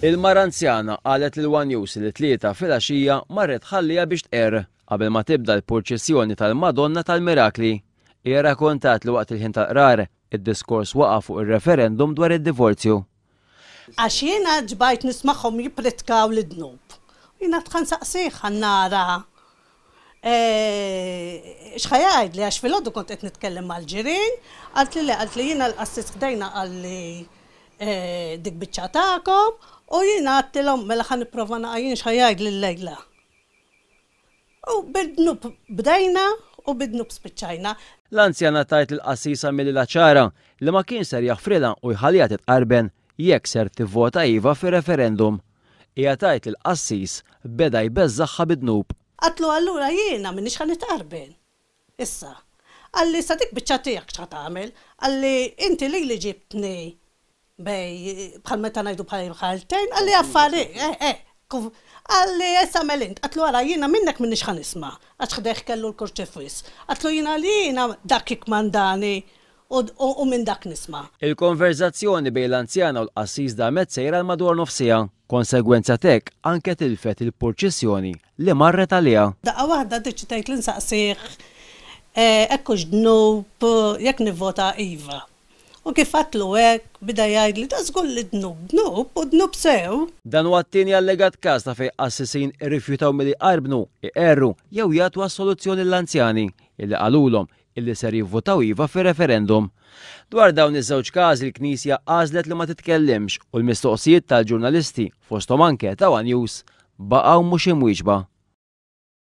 Il-mara anzjana qalet lil one News li t-Tlieta filgħaxija marret tħalliha biex tqerr qabel ma tibda l-purċissjoni tal-Madonna tal-Mirakli. Hija rrakontat li waqt il-ħin tal-qrar, id-diskors waqa' fuq ir-referendum dwar id-divorzju. Għax jiena ġbajt nismagħhom jippritkaw l-dnub. Jiena dħa nsaqsih ħa nara X'ħa jgħidli għax filgħodu kont qed nitkellem mal-ġirien, qaltli le, qaltli jiena l-qassis ħdejna qalli dik biċċa tagħkom u jiena għadtilhom mela ħa nipprova naqa' jien x'ħa jgħidli llejla. U bid-dnub bdejna u bid-dnub spiċċajna. L-anzjana tgħid li l-qassis għamililha ċara li ma kienx ser jaħfrilha u jħalliha titqarben jekk ser tivvota iva fir-referendum. Hija tgħid li l-qassis beda jbeżżagħha bid-dnub. Għadtlu allura jiena m'iniex ħa nitqarben. Issa, qalli sa dik biċċa tiegħek x'ħa tagħmel, qalli inti lili ġibtni bej bħal meta ngħidu bħal imħalltejn, qalli affarijiet, eh, eh, kif, qalli issa agħmel int, għadtlu ara jiena minnek m'iniex ħa nisma', għax ħdejh kellu l-kurċifiss, għadtlu jiena li jiena dak jikkmandani u minn dak nisma'. Il-konverżazzjoni bejn l-anzjana u l-qassis damet sejra għal madwar nofs siegħa. Konsegwenza t'hekk, anke tilfet il-purċissjoni li marret għaliha. Daqqa waħda ddeċidejt li nsaqsih hekk hux dnub jekk nivvota iva. U kif għidtlu hekk, bida jgħidli ta' żgur li d-dnub dnub u dnub sew. Dan huwa t-tieni allegat każ ta' fejn qassisin irrifjutaw milli jqarbnu, iqerru jew jagħtu assoluzzjoni lill-anzjani, illi qalulhom illi ser jivvutaw iva fir-referendum. Dwar dawn iż-żewġ każi l-Knisja għażlet li ma titkellimx u l-mistoqsijiet tal-ġurnalisti, fosthom anke ta' one News, baqgħu mhux imwieġba.